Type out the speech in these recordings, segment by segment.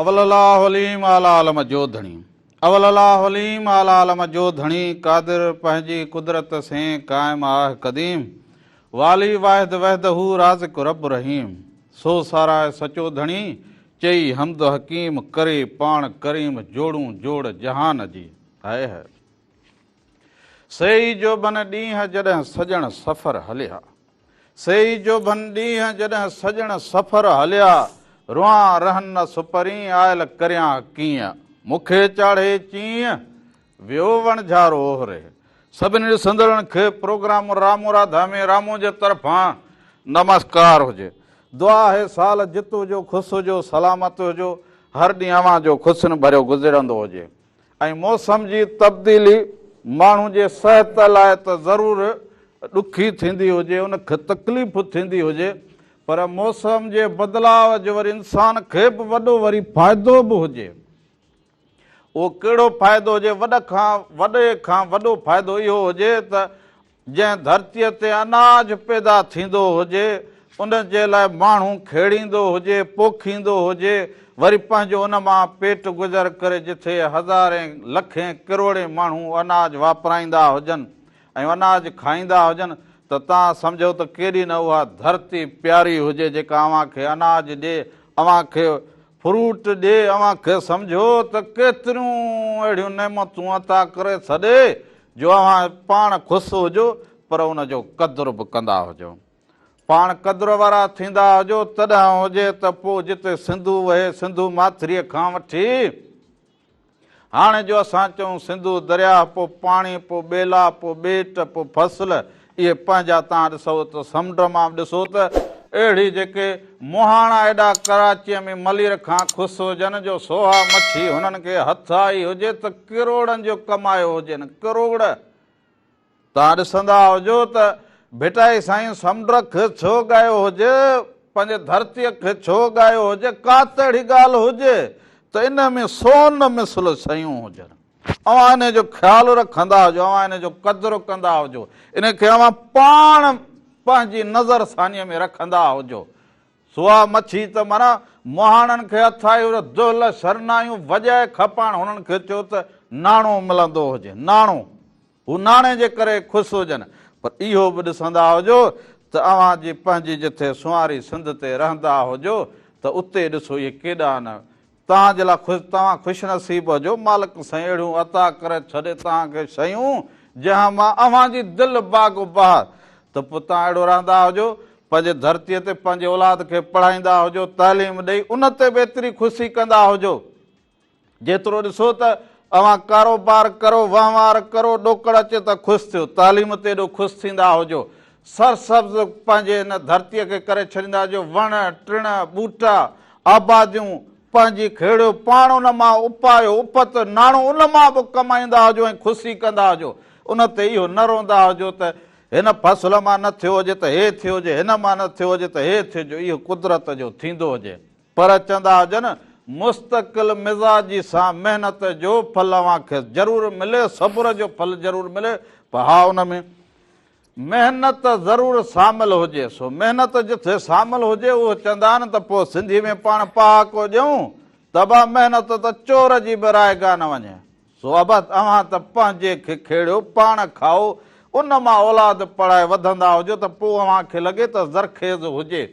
اول الله عليم اعليٰ عالم جو ڌڻي اول الله عليم اعليٰ عالم جو ڌڻي قادر پنهنجي قدرت سين قائم آهه قديم والي واحد وحده رازق رب رحيم سو ساراهه سچو ڌڻي چئي حمد حڪيم ڪري پاڻ ڪريم جوڙون جوڙ جهان جي هائي هائي سي ئي جوڀن ڏينهن جڏهن سڄڻ سفر هليا. سي ئي جوڀن ڏينهن جڏهن سڄڻ سفر هليا. روئان رهن نه سپرين آيل ڪريان ڪيئن. مون کي چاڙهي چيئن ويو وڻجهارو اوهري. سڀني ڏسندڙن کي پروگرام رامو راڌا ۾ رامو جي طرفان نمسڪار هجي. دعا آهي سال جت هجو خوش هجو سلامت هجو هر ڏينهن اوهان جو خوشين ڀريو گذرندو هجي. ۽ موسم جي تبديلي ماڻهو جي صحت لاء ته ضرور ڏکي ٿيندي هجي، ان کي تڪليف ٿيندي هجي پر موسم جي بدلاء جو وري انسان کي به وڏو وري فائدو به هجي. اهو ڪهڙو فائدو هجي؟ وڏ کان وڏي کان وڏو فائدو اهو هجي ته جنهن ڌرتيء تي اناج پيدا ٿيندو هجي، ان جي لاء ماڻهو کيڙيندو هجي، پوکيندو هجي، وري پنهنجو ان مان پيٽ گذر ڪري جٿي هزارين، لکين، ڪروڙين ماڻهو اناج واپرائيندا هجن ۽ اناج کائيندا هجن ته توهان سمجهو ته ڪيڏي نه اها ڌرتي پياري هجي جيڪا اوهان کي اناج ڏي، اوهان کي فروٽ ڏي اوهان کي سمجهو ته ڪيتريون اهڙيون نعمتون عطا ڪري ڇڏي جو اوهان پاڻ خوش هجو پر ان جو قدر به ڪندا هجو پاڻ قدر وارا ٿيندا هجو تڏهن هجي ته پوء جتي سنڌو وهي سنڌو ماٿريء کان وٺي هاڻي جو اسان چئون سنڌو درياهه، پوء پاڻي، پوء ٻيلا، پوء ٻيٽ، پوء فصل، اهي پنهنجا تان ڏسو ته سمنڊ مان به ڏسو ته اهڙي جيڪي مهاڻا ايڏا ڪراچيء ۾ ملير کان خوس هجن جو سوها مڇي هنن کي هٿ آئي هجي ته ڪروڙن جو ڪمايو هجين، ڪروڙ! توهان ڏسندا هجو ته ڀٽائي سائين سمنڊ کي ڇو ڳايو هجي، پنهنجي ڌرتيء کي ڇو ڳايو هجي، ڪا ته اهڙي ڳالهه هجي ته ان ۾ سون مثل شيون هجن. اوهان انهيء جو خيال رکندا هجو، اوهان انهيء جو قدر ڪندا هجو، انهيء کي اوهان پاڻ پنهنجي نظر ثانيء ۾ رکندا هجو. سوا مڇي ته معنيٰ مهاڻن کي اٿائي هجو، دهل شرنايون وڄائي کپائڻ هنن کي چئو ته ناڻو ملندو هجي، ناڻو! هو ناڻي جي ڪري خوش هجن پر اهو به ڏسندا هجو ته اوهان جي پنهنجي جٿي سنواري سنڌ تي رهندا هجو ته اتي ڏسو اهي ڪيڏا نه توهان جي لاء خوش توهان خوش نصيب هجو مالڪ سائين اهڙيون عطا ڪري ڇڏي توهان کي شيون جنهن مان اوهان جي دل باغ و بهار ته پوء توهان اهڙو رهندا هجو پنهنجي ڌرتي تي پنهنجي اولاد کي پڙهائيندا هجو تعليم ڏئي ان تي به ايتري خوشي ڪندا هجو. جيترو ڏسو ته اوهان ڪاروبار ڪرو، وهنوار ڪرو، ڏوڪڙ اچي ته خوش ٿيو، تعليم تي ايڏو خوش ٿيندا هجو، سرسبز پنهنجي هن ڌرتيء کي ڪري ڇڏيندا هجو، وڻ، ٽڻ، ٻوٽا، آباديون، پنهنجي کهڙيو پاڻ ان مان اپايو، اپت، ناڻو ان مان به ڪمائيندا هجو ۽ خوشي ڪندا هجو، ان تي اهو نه روندا هجو ته هن فصل مان نه ٿيو هجي ته هي ٿيو هجي، هن مان نه ٿيو هجي ته هي ٿيو هجي، اهو قدرت جو ٿيندو هجي. پر چوندا هجن، مستقل مزاجي سان محنت جو ڦل اوهان کي ضرور ملي، صبر جو ڦل ضرور ملي، پر ها ان ۾ محنت ضرور سامل هجي، سو محنت جٿي سامل هجي اهو چوندا آهن ته پوء سنڌي ۾ پاڻ پهاڪو ڏيون ته ابا محنت ته چور جي به رائيگان نه وڃي، سو ابا اوهان ته پنهنجي کي کيڙيو، پاڻ کائو، ان مان اولاد پڙهائي وڌندا هجو ته پوء اوهان کي لڳي ته زرخيز هجي.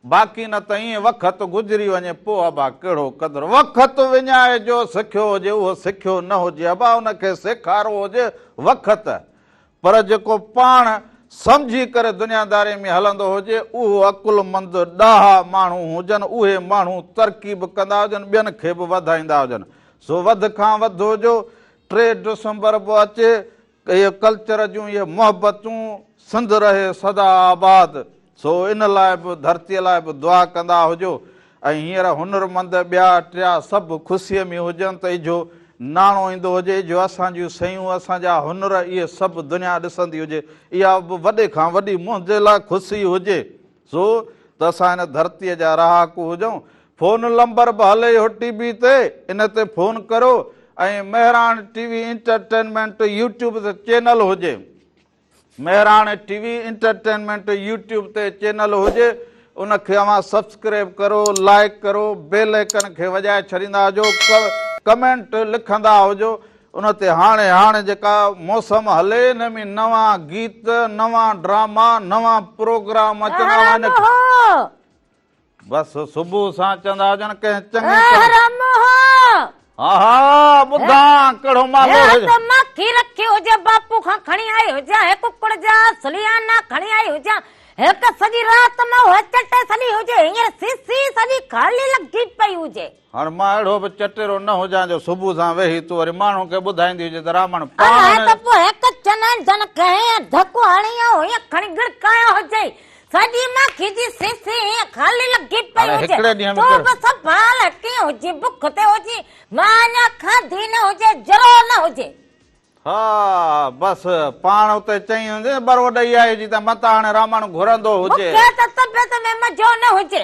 باقي نه ته ائين وقت گذري وڃي پوء ابا ڪهڙو قدر وقت وڃائي جو سکيو هجي اهو سکيو نه هجي ابا ان کي سيکارو هجي وقت پر جيڪو پاڻ سمجهي ڪري دنياداري ۾ هلندو هجي اهو عقلمند ڏاها ماڻهو هجن اهي ماڻهو ترقي به ڪندا هجن ٻين کي به وڌائيندا هجن سو وڌ کان وڌ هجو ٽي ڊسمبر به اچي اهي ڪلچر جون اهي محبتون سنڌ رهي سدا آباد سو ان لاء به ڌرتي لاء به دعا ڪندا هجو ۽ هينئر هنر مند ٻيا ٽيا سڀ خوسي ۾ هجن ته اجهو ناڻو ايندو هجي اجهو اسان جون سيون اسان جا هنر اهي سڀ دنيا ڏسندي هجي اها به وڏي کان وڏي منهنجي لاء خوسي هجي. سو ته اسان هن ڌرتيء جا رهاڪو هجون. فون لمبر به هلي اهو ٽي بي تي ان تي فون ڪرو ۽ Mehran T V entertainment YouTube تي چينل هجي Mehran T V entertainment YouTube تي چينل هجي ان کي اوهان سبسڪريب ڪرو لائيڪ ڪرو بيل ايڪن کي وڄائي ڇڏيندا هجو ڪمينٽ لکندا هجو ان تي هاڻي هاڻي جيڪا موسم هلي ان ۾ نوان گيت نوان ڊراما نوان پروگرام اچندا وڃن بس صبح سان چوندا هجن ڪنهن چڱي حرام ها ها ٻڌا ڪهڙو مالو هجي مکي رکي هجي باپو کان کڻي آئي هجا هي ڪڪڙ جا سليانا کڻي آئي هجا هڪ سڄي رات مئو چٽي سڏي هجي هينئر سي سي سڄي خالي لڳي پئي هجي هاڻ مان اهڙو به چٽيرو نه هجان جو صبح سان ويهي تون وري ماڻهن کي ٻڌائيندي هجين ته رامڻ پاڻ الاء هن ته پوء هڪ چنائن جن ڪنهن ڌڪ هڻي يا هيئن کڻي گڙڪايو هجئي. سڄي ماکي جي سيسي هيئن خالي لڳي پئي هاڻي هجئي. هڪڙي ڏينهن ۾ تون به ڪهڙو. سنڀال هٽي هجين، بک تي هجين، مان اڃا کاڌي نه هجي، جرئو نه هجي. ها بس پاڻ اتي چئي هوندين ٻرو ڏئي آئي جي ته متان هاڻي رامڻ گهرندو هجي. مونکي ته طبيعت ۾ مزو نه هجي.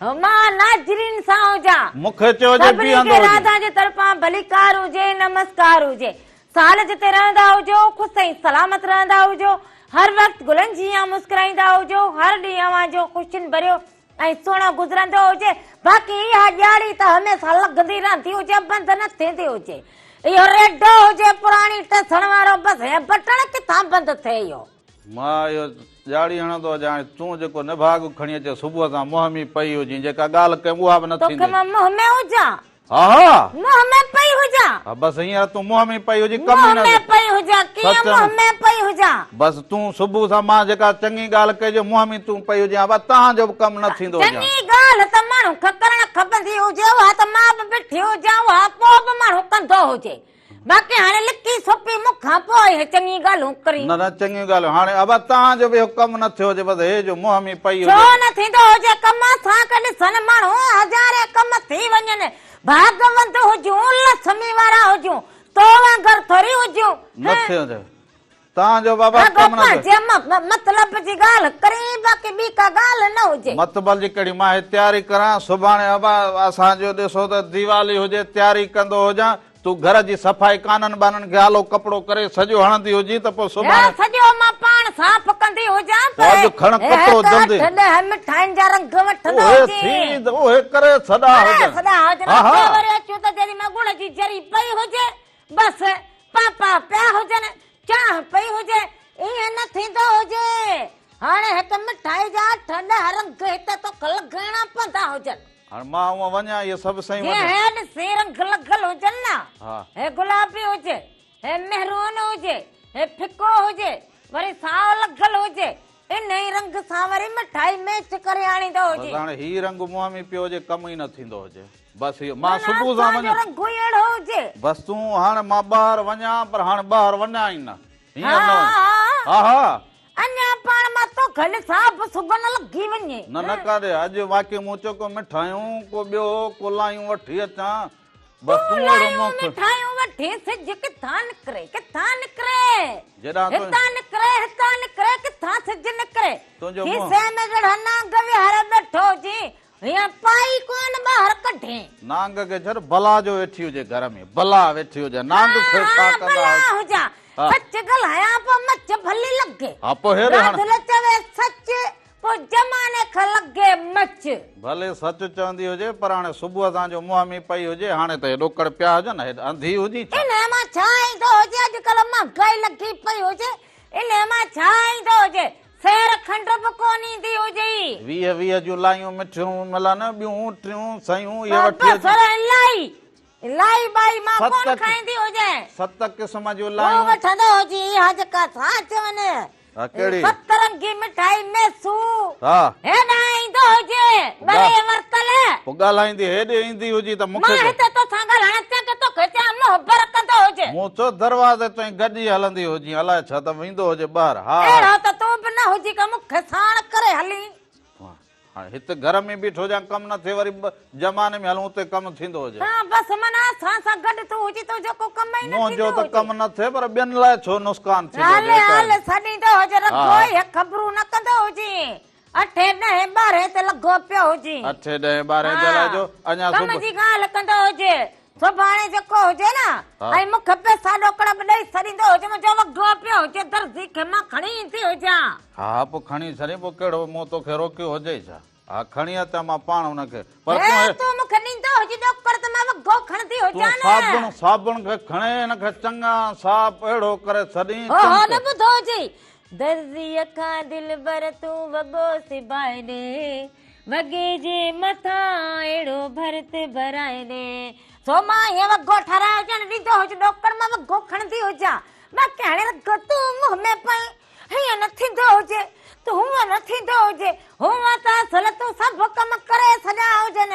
مان ناظرين سان هجان. مون کي چئو جي سڀني کي بيهندو هجي. راڌا جي طرفان ڀليڪار هجي، نمسڪار هجي. سال جتي رهندا هجو، خوش ۽ سلامت رهندا هجو. هر وقت گلن جيان مسڪرائيندا هجو. هر ڏينهن اوهان جو خوشين ڀريو ۽ سهڻو گذرندو هجي. باقي اها ڏياڙي ته هميشه لڳندي رهندي هجي، بند نه ٿيندي هجي. اهو ريڊو هجي پراڻي ٽسڻ وارو، بس هيء بٽڻ ڪٿان بند ٿئي اهو. مان اهو ڄاڙي هڻندو هجان ۽ تون جيڪو نڀاڳ کڻي اچين صبح تان منهن ۾ پئي هجين جيڪا ڳالهه ڪيم اها به نه ٿيندي. توکي مان منهن ۾ هجان. ها ها. منهن ۾ پئي هجان. ها بس هينئر تون منهن ۾ پئي هجين ڪم ئي نه. منهن ۾ پئي هجان ڪيئن منهن ۾ پئي هجان. بس تون صبح تان مان جيڪا چڱي ڳالهه ڪئي جو منهن ۾ تون پئي هجين ابا تان جو به ڪم نه ٿيندو هجان. چڱي ڳالهه ته ماڻهو کي ڪرڻ کپندي هجي اها ته مان به بيٺي هجان اها پوء به ماڻهو ڪندو هجي. باقي هاڻي لڪي سوپي مون کان پوء هي چڱيون ڳالهيون ڪري. نه نه چڱيون ڳالهيون هاڻي ابا تان جو به اهو ڪم نه ٿيو هجي بس هي جو منهن ۾ پئي هجي. ڇو نه ٿيندو هجي ڪم اسان کي ڏسن ماڻهو هزارين ڪم ٿي وڃن ڀاڳوند هجون لسمي وارا هجون تو وانگر ٿوري هجون نه ٿيو نه ٿيو تان جو بابا ڪم نه ڪري. رڳو پنهنجي مطلب جي ڳالهه ڪرين باقي ٻي ڪا ڳالهه نه هجي. مطبل جي ڪهڙي مان هي تياري ڪران سڀاڻي ابا اسان جو ڏسو ته ديوالي هجي تياري ڪندو هجان تون گهر جي صفائي ڪانن ٻانن کي آلو ڪپڙو ڪري سڄو هڻندي هجين ته پوء سڀاڻي. هي سڄو مان پاڻ صاف ڪندي هجان ته هي اڄ کڻ ڪتو جلدي. اٺ ڏهه مٺائين جا رنگ وٺندو اهي هجين. سيد اهي ڪري سڏا هجن. ڪري سڏا هجن اتي وري اچون ته جيڏي مهل ڳڙ جي جري پئي هجي بس پاپا پيا هجن، چانهه پئي هجي، ائين نه ٿيندو هجي. هاڻي هڪ مٺائي جا ٺل هر انگ هت توک لڳائڻا پوندا هجن. هاڻي مان اوهان وڃان اهي سڀ سئي وڃن. جي هيڊ سي رنگ لڳل هجن نه. هي گلابي هجي، هي مهرون هجي، هي ڦڪو هجي، وري سائو لڳل هجي، ان ئي رنگ سان وري مٺائي ميچ ڪري آڻيندو هجي. بس هاڻي هي رنگ مهامي پيو هجي ڪم ئي نه ٿيندو هجي. بس هي مان صبح سان وڃان. معنيٰ اسان جو رنگ ئي اهڙو هجي. بس تون هاڻ مان ٻاهر وڃان پر هاڻ ٻاهر وڃان ئي نه. هينئر نه وڃ. ها ها. ها ها. اڃا پاڻ مان تو گهل سان به صبح نه لڳي وڃي. نه نه ڪاري اڄ واقعي مون چيو ڪو مٺايون ڪو ٻيو ڪو لايون وٺي اچان. تون لايون مٺايون وٺي سج ڪٿان نڪري ڪٿان نڪري هتان نڪري هتان نڪري ڪٿان سج نڪري کيسي ۾ جڙا نانگ ويهار ٻيٺو هجي هيئن پائي ڪون ٻاهر ڪڍي نانگ کي ڇڏ بلا جو ويٺي هجي گهر ۾ بلا ويٺي هجي نانگ کي ڇا ڪندا هجا سچ ڳالهايان پو مچ ڀلي لڳي ها پو هير هڻ سچ پوء زماني کي لڳي مچ. ڀلي سچ چوندي هجي پر هاڻي صبح سان جو موهمي پئي هجي هاڻي ته هي ڏوڪڙ پيا هجن هيڏ انڌي هجي ڇا؟ انهي مان ڇا ايندو هجي اڄڪلهه مهانگائي لڳي پئي هجي انهي مان ڇا ايندو هجي سير کنڊ به ڪونه ايندي هجي. ويهه ويهه جون لايون مٺيون ملن ٻيون ٽيون سيون اهي وٺي اچون. بصر الائي الائي ٻائي مان ڪونه کائيندي هجي. ست قسم جون لايون. هو وٺندو هجي اها جيڪا ٿا چون سترنگي مٺائي ميسو هيڏانهن ايندو هجي ٻري ورتل پوء ڳالهائيندي هيڏي ايندي هجي ته مون کي مان هتي توسان ڳالهائڻ ٿيان ڪي توکي چيان مهبر ڪندو هجي مون چو دروازي تائين گڏجي هلندي هجين الاء ڇا ته ويندو هجي ٻاهر ها اهڙو ته تون به نه هجي ڪي مون کي ساڻ ڪري هلين هاڻي هت گهر ۾ بيٺو هجان ڪم نه ٿئي وري جماني ۾ هلون اتي ڪم ٿيندو هجي. ها بس من اسان سان گڏ ٿو هجي تنهنجو ڪو ڪم ئي نه ٿيندو هجي. منهنجو ته ڪم نه ٿئي پر ٻين لاء ڇو نسڪان ٿيندو هجي. هل هل سڏيندو هجي رڳو ئي هي خبرون نه ڪندو هجين. اٺين ڏهين ٻارهين تي لڳو پيو هجين. اٺين ڏهين ٻارهين تي الاء جو اڃا صبح. ڪم جي ڳالهه ڪندو هجي سڀاڻي جيڪو هجي نه ۽ مون کي به ساڏو ڪڙٻ ڏئي سڏيندو هجي منهنجو وڳو پيو هجي درزي کي مان کڻي ايندي هجان. ها ها پوء کڻي سري پوء ڪهڙو مون توکي روڪيو هجئي ڇا ها کڻي اچان مان پاڻ ان کي پر تون هي تون مون کي ڏيندو هجي ڏوڪڙ ته مان وڳو کڻندي هجان نه تون صابڻ صابڻ کي کڻي هن کي چڱا صاف اهڙو ڪري سڏين ها ها نه ٻڌو هجئي درزي کان دلبر تون وڳو سبائي ڏي. وڳي جي مٿان اهڙو ڀرت ڀرائي ڏي. سو مان ائين وڳو ٺهرائي ڄڻ ڏيندو هجي ڏوڪڙ مان وڳو کڻندي هجان. باقي هاڻي رڳو تون منهن ۾ پئين. هيئن نه ٿيندو هجي ته هونئن نه ٿيندو هجي. هونئن ته اصل تون سڀ ڪم ڪري ڇڏيا هجن.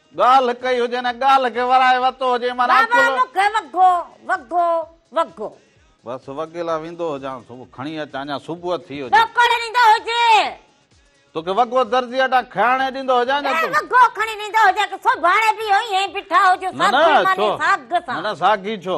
ڳالهه ڪئي هجي نه ڳالهه کي ورائي وتو هجي معنيٰ واهه واهه مون کي وڳو وڳو وڳو. بس وڳي لا ويندو هجان صبح کڻي اچ اڃا صبح ٿي هجي. ڏوڪڙ ڏيندو هجي. توکي وڳو درزي اڏان کياڻي ڏيندو هجان ڇا تون. وڳو کڻي ڏيندو هجي ڪي سڀاڻي به اهو ائين بيٺا هجون ساڳي معني ساڳ سان. نه نه ساڳي ڇو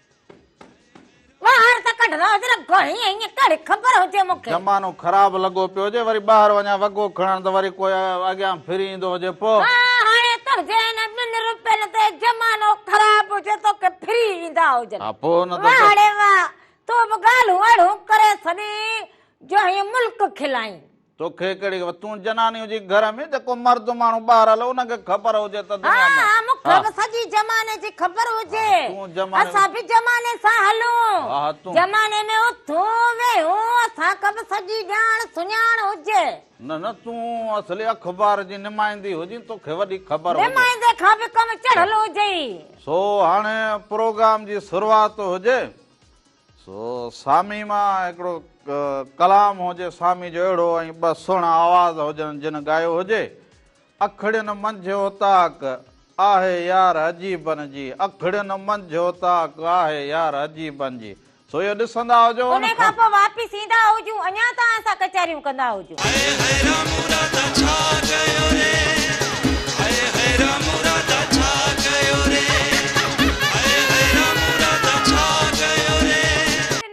ٻاهر ته ڪڍ نه حضرت گهڻي ائين ڪهڙي خبر هجي مون کي زمانو خراب لڳو پيو هجي وري ٻاهر وڃان وڳو کڻڻ ته وري ڪوئي اڳيان ڦري ايندو هجي پو. ها هاڻي تنهنجي ان ٻن روپين تي زمانو خراب هجي توکي ڦري ايندا هجن. ها پو نه ته واهه ڙي واهه تون به ڳالهون اهڙيون ڪري ڇڏين جو هيء ملڪ کلائين. توکي ڪهڙي خبر تون جناني هجين گهر ۾ جيڪو مرد ماڻهو ٻاهر هلو ان کي خبر هجي ته دنيا ۾ ها ها مون کي به سڄي زماني جي خبر هجي اسان به زماني سان هلون زماني ۾ اٿون ويهون اسان کي به سڄي ڄاڻ سڃاڻ هجي نه نه تون اصلي اخبار جي نمائندي هجين توکي وڏي خبر هجي نمائندي کان به ڪم چڙهل هجئي سو هاڻي پروگرام جي شروعات هجي سو سامي مان هڪڙو ڪلام هجي سامي جو اهڙو ۽ ٻه سهڻا آواز هجن جن ڳايو هجي اکڙين منجهه اوطاق آهي يار عجيبن جي اکڙين منجهه اوطاق آهي يار عجيبن جي سو اهو ڏسندا هجو ان کان پوء واپس ايندا هجون اڃان توهان سان ڪچهريون ڪندا هجون.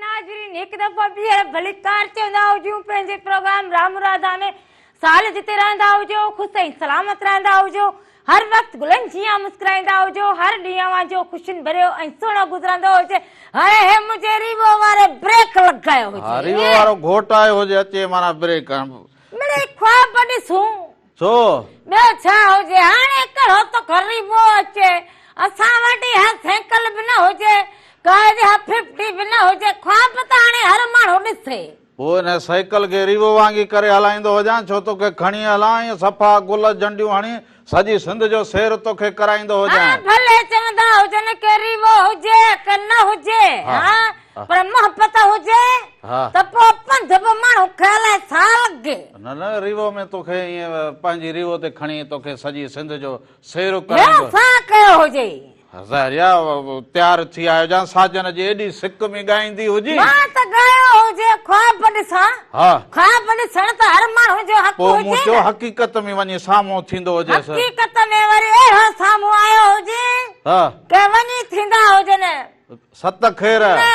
ناظرين هڪ دفعو ٻيهر ڀليڪار چوندا هجون پنهنجي پروگرام رام راڌا ۾ سال جتي رهندا هجو خوش ۽ سلامت رهندا هجو هر وقت گلن جيان مسڪرائيندا هجو، هر ڏينهن اوهان جو خوشين ڀريو ۽ سهڻو گذرندو هجي، هاڻي هي منهنجي ريوو واري بريڪ لڳايو هجي. ها ريوو وارو گهوٽ آيو هجي اچي معنيٰ بريڪ هڻ. مڙئي خواب ڏسون. ڇو؟ ٻيو ڇا هجي هاڻي ڪهڙو ته ڪو ريوو اچي اسان وٽ اها سينڪل به نه هجي ڪار جي اها ففٽي به نه هجي خواب ته هاڻي هر ماڻهو ڏسي. هو هن سائيڪل کي ريوو وانگي ڪري هلائيندو هجان ڇو توکي کڻي هلان ۽ صفا گل جنڊيون هڻي سڄي سنڌ جو سير توکي ڪرائيندو هجان. ها ڀلي چوندا هجن ڪي ريوو هجي ڪي نه هجي ها پر محبت هجي ته پوء پنڌ به ماڻهو کي الائي ڇا لڳي. نه نه ريوو ۾ توکي ائين پنهنجي ريوو تي کڻي توکي سڄي سنڌ جو سير ڪرائيندو. هي ڇا ڪيو هجئي. هزاريا تيار ٿي آيو جان ساجن جي ايڏي سڪ ۾ ڳائيندي هجين. مان ته ڳايو هجي خواب ڏسان. ها. خواب ڏسڻ ته هر ماڻهو جو حق هجي نه. پوء مون چيو حقيقت ۾ وڃي سامهون ٿيندو هجيس. حقيقت ۾ وري اهو سامهون آيو هجي. ها. ڪي وڃي ٿيندا هجن. ست خير. نه.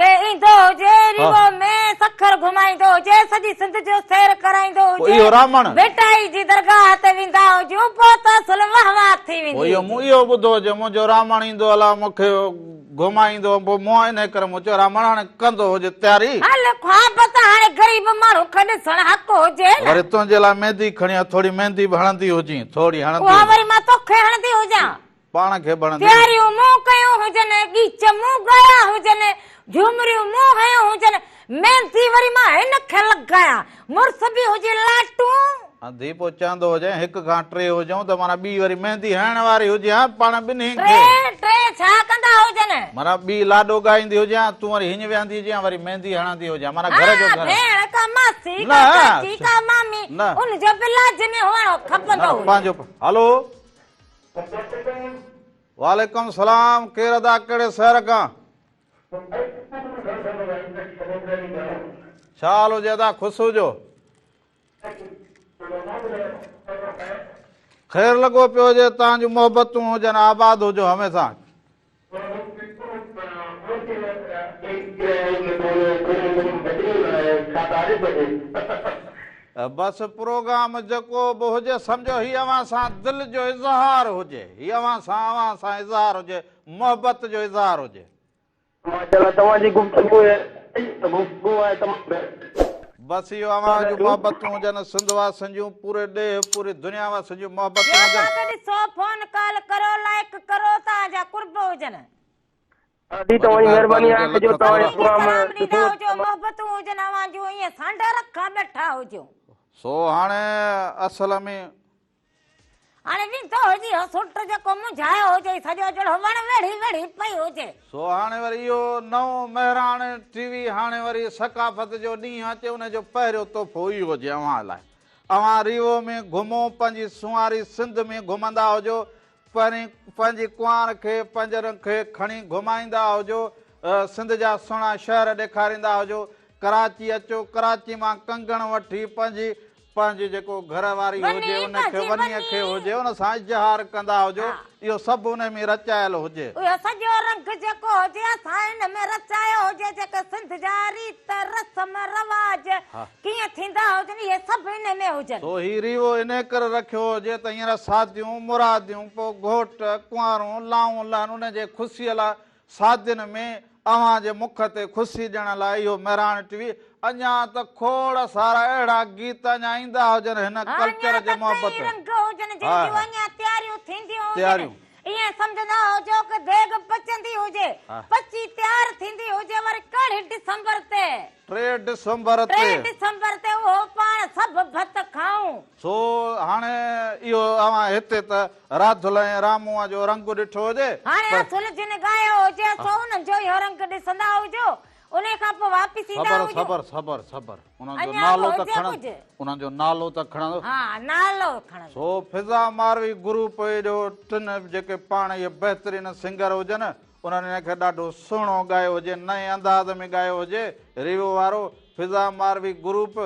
ڪي ايندو هجي ريوو ۾ سکر گهمائيندو هجي سڄي سنڌ جو سير ڪرائيندو هجي ڀٽائي جي درگاهه تي ويندا هجون پوء ته سلهه وهنوار ٿي ويندي هجي مون اهو ٻڌو هجي منهنجو رامڻ ايندو الا مون کي گهمائيندو پوء مون انهي ڪري مون چيو رامڻ هاڻي ڪندو هجي تياري هل خواب ته هاڻي غريب ماڻهو کي ڏسڻ حق هجي نه وري تنهنجي لاء ميندي کڻيان ٿوري ميندي به هڻندي هجين ٿوري هڻندي اها وري مان توکي هڻندي هجان پاڻ کي بڻندي. پياريون مون ڪيون هجن، ڳيچ مون ڳايا هجن، جهومريون مون هنيون هجن، ميندي وري مان هن کي لڳايان، مڙس به هجي لاٽون. هندي پوء چوندو هجين، هڪ کان ٽي هجون ته معنيٰ ٻي وري ميندي هڻڻ واري هجيان، پاڻ ٻنهين کي. ٽي، ٽي ڇا ڪندا هجن؟ معنيٰ ٻي لاڏو ڳائيندي هجيان، تون وري هينئن ويهندي هجيان، وري ميندي هڻندي هجيان، معنيٰ گهر جو گهر. ها، ڀيڻ ڪا ماسي ڪا چاچي ڪا مامي، ان جو به لازمي هئڻو کپندو هيو. نه، پنهنجو. هلو! السلام عليڪم. وعليڪم سلام ڪير ادا ڪهڙي شهر کان. ڇا حال هجي ادا خوش هجو. خير لڳو پيو هجي تان جون محبتون هجن آباد هجو هميسان. بس پروگرام جيڪو به هجي سمجهو هي اوهان سان دل جو اظهار هجي هي اوهان سان اوهان سان اظهار هجي محبت جو اظهار هجي. ماشاءالله توهان جي گفتگو ۽ گفتگو آهي تمام بهترين. بس اهو اوهان جون محبتون هجن سنڌ واسين جون پوري ڏيهه پوري دنيا واسين جون محبتون هجن. جيئن ڪا ته ڏسو فون ڪال ڪرو لائيڪ ڪرو توهان جا قرب هجن. دادي توهان جي مهرباني آهي ته جو توهان جا پروگرام ڏسون ته محبتون هجن اوهان جون ائين سانڍا رکا ٻيٺا هجون. سو هاڻي اصل ۾. اڙي وين تو هجي اهو سٽ جيڪو منجهايو هجئي سڄو جهڙو وڻ ويڙهي ويڙهي پئي هجي. سو هاڻي وري اهو نئون مهراڻ ٽي وي هاڻي وري ثقافت جو ڏينهن اچي ان جو پهريون تحفو اهو هجي اوهان لاء اوهان ريوو ۾ گهمو پنهنجي سونهاري سنڌ ۾ گهمندا هجو پهرين پنهنجي ڪنوار کي پنجرن کي کڻي گهمائيندا هجو سنڌ جا سهڻا شهر ڏيکاريندا هجو ڪراچي اچو ڪراچي مان ڪنگڻ وٺي پنهنجي پنهنجي جيڪو گهر واري هجي ان کي وني کي هجي ان سان اظهار ڪندا هجو اهو سڀ ان ۾ رچايل هجي. اهو سڄو رنگ جيڪو هجي اسان ان ۾ رچايو هجي جيڪي سنڌ جا ريت رسم رواج ڪيئن ٿيندا هجن اهي سڀ ان ۾ هجن. سو هي ريوو ان ڪري رکيو هجي ته هينئر ساديون مراديون پوء گهوٽ ڪنوارون لائون لهن ان جي خوشيء لاء شادين ۾ اوهان جي مک تي خوشي ڏيڻ لاء اهو مهراڻ ٽي وي اڃا ته کوڙ سارا اهڙا گيت اڃا ايندا هجن هن ڪلچر جي محبت هاء هاء تياريون ٿينديون هجن ايئن سمجهندا هجو ڪه ديڳ پچندي هجي پچي تيار ٿيندي هجي وري ڪهڙي ڊسمبر تي ٽي ڊسمبر تي ٽي ڊسمبر تي اهو پاڻ سڀ ڀت کائون. سو هاڻي اهو اوهان هتي ته راڌل ۽ رامونء جو رنگ ڏٺو هجي، هاڻي پر. اصل جن ڳايو هجي، سو انهن جو اهو رنگ ڏسندا هجو، انهيء کان پوء واپس ايندا صبر، هجو. صبر، صبر، صبر. انهن جو اڃا به نالو ته هجي کڻندس، ڪجهه. انهن جو نالو ته کڻندس. ها، نالو کڻندس. سو فضا ماروي گروپ جو ٽن جيڪي پاڻ اهي بهترين سنگر هجن، انهن ان کي ڏاڍو سهڻو ڳايو هجي، نئين انداز ۾ ڳايو هجي، ريوو وارو، فضا ماروي گروپ،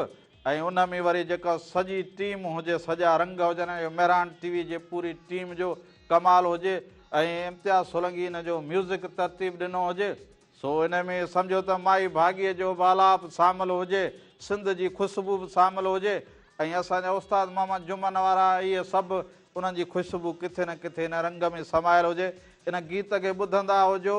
۽ ان ۾ وري جيڪا سڄي ٽيم هجي سڄا رنگ هجن ۽ مهراڻ ٽي وي جي پوري ٽيم جو ڪمال هجي ۽ امتياز سولنگي ان جو ميوزڪ ترتيب ڏنو هجي سو ان ۾ سمجهو ته مائي ڀاڳي جو به آلاپ سامل هجي سنڌ جي خوشبو به سامل هجي ۽ اسان جا استاد محمد جمن وارا اهي سڀ انهن جي خوشبو ڪٿي نه ڪٿي ان رنگ ۾ سمايل هجي ان گيت کي ٻڌندا هجو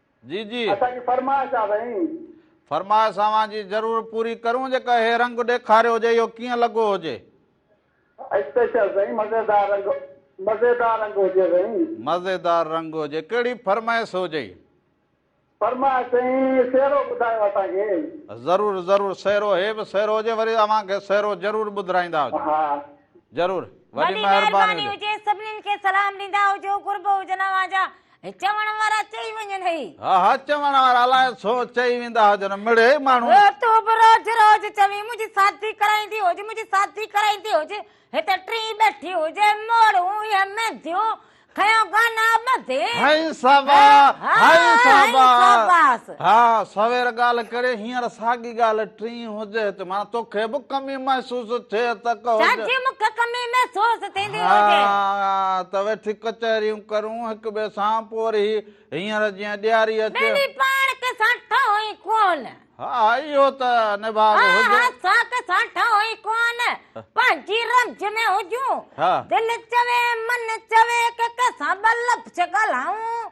جي جي. اسان جي فرمائش آ سائين. فرمائش اوهان جي ضرور پوري ڪريون جيڪا هي رنگ ڏيکاريو هجي اهو ڪيئن لڳو هجي. اسپيشل سائين مزيدار رنگ مزيدار رنگ هجي سائين. مزيدار رنگ هجي ڪهڙي فرمائش هجئي. فرمائش سائين سيرو ٻڌايو اسان کي. ضرور ضرور سيرو هي به سيرو هجي وري اوهان کي سيرو ضرور ٻڌرائيندا هجون. ها. ضرور وڏي مهرباني هجي. سڀنين کي سلام ڏيندا هجو قرب هجن اوهان جا هي چوڻ وارا چئي وڃن هي. ها ها چوڻ وارا الاء ڇو چئي ويندا هجن مڙهي ماڻهو. هي تون به روز روز چوين منهنجي سادي ڪرائيندي هج منهنجي سادي ڪرائيندي هج هتي ٽين ٻيٺي هجي موڙهون اهي مينديون کيو گانا ٻڌي. هائي صابا هائي صابا. ها سوير ڳالهه ڪڙي هينئر ساڳي ڳالهه ٽين هجي ٿي معنيٰ توکي به ڪمي محسوس ٿئي ته ڪهو جو سچ مون کي ڪمي محسوس ٿيندي هجي. ها ته ويٺي ڪچهريون ڪرون هڪ ٻئي سان پوء وري هي هينئر جيئن ڏياري اچي. ٻنهي پاڻ کي سان ٺاهون ئي ڪونه. ها اهو ته نڀاڳ ها هجي. ها سان کي سان ٺاهون ئي ڪونه پنهنجي رمج ۾ هجون. ها. دل چوي من چوي ڪنهن ڪنهن سان ٻه لفظ ڳالهائون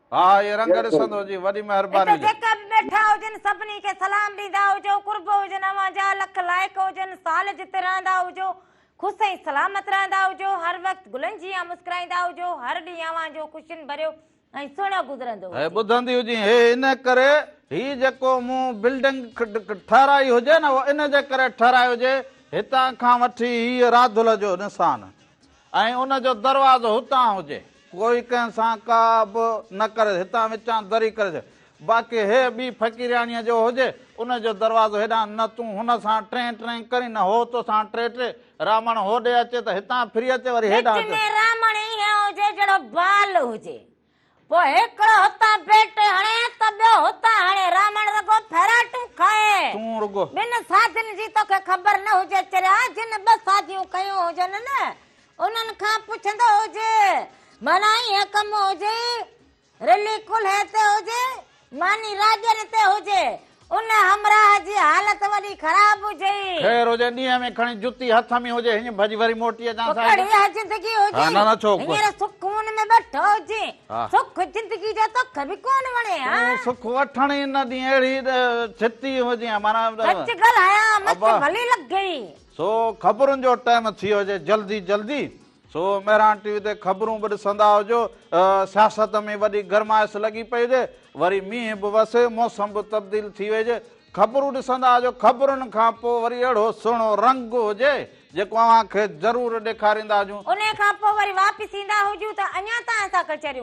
ها اهي رنگ ڏسندو هجين وڏي مهرباني هجي. اتي جيڪر ڏيٺا هجن سڀني کي سلام ڏيندا هجو قرب هجن اوهان جا لک لائق هجن سال جت رهندا هجو خوس ۽ سلامت رهندا هجو هر وقت گلن جيان مسڪرائيندا هجو هر ڏينهن اوهان جو خوشين ڀريو ۽ سهڻو گذرندو هي هجي. ٻڌندي هجين هي ان ڪري هي جيڪو مون بلڊنگ ٺهرائي هجي نه اهو ان جي ڪري ٺهرائي هجي هتان کان وٺي هيء راڌل جو نسان ۽ ان جو دروازو هتان هجي. ڪوئي ڪنهن سان ڪا به نه ڪريس، هتان وچان دري ڪريس. باقي هيء ٻي فقيرياڻيء جو هجي، ان جو دروازو هيڏانهن نه تون هن سان ٽرين ٽرين ڪرين نه هو تو سان ٽري ٽري. رامڻ هوڏي اچي ته هتان ڦري اچي وري هيڏانهن اچي. وچ ۾ رامڻ ائين هجي جهڙو بال هجي. پوء هڪڙو هتان بيٽ هڻي ته ٻيو هتان هڻي رامڻ رڳو ڦيراٽون کائي. تون رڳو. ٻن ساڌين جي توکي خبر نه هجي چريا جن ٻه ساڌيون ڪيون هجن نه انهن کان پڇندو هجي معنيٰ ايئن ڪم هجي رلي ڪلهي تي هجي ماني راڄن تي هجي. ان همراهه جي حالت وڏي خراب هجئي. خير هجي ڏينهن ۾ کڻي جتي هٿ ۾ هجي هينئن ڀڄي وري موٽي اچان صاحب. پڪڙ اها زندگي هجئي. هينئر سک خون ۾ ٻيٺو هجئي. سک زندگي جو توکي به ڪونه وڻي ها. تون سک وٺڻ ئي نه ڏين اهڙي ڇتي هجئي ها معنيٰ. سچ ڳالهايان مچ ڀلي لڳئي. سو خبرن جو ٽائيم ٿيو هجئي جلدي جلدي سو مهراڻ ٽي وي تي خبرون به ڏسندا هجو، سياست ۾ وڏي گرمائش لڳي پئي هجي، وري مينهن به وسي، موسم به تبديل ٿي ويجي، خبرون ڏسندا هجو، خبرن کان پوء وري اهڙو سهڻو رنگ هجي، جيڪو اوهان کي ضرور ڏيکاريندا هجون. انهيء کان پوء وري واپس ايندا هجون ته اڃا تائين اسان ڪچهريون.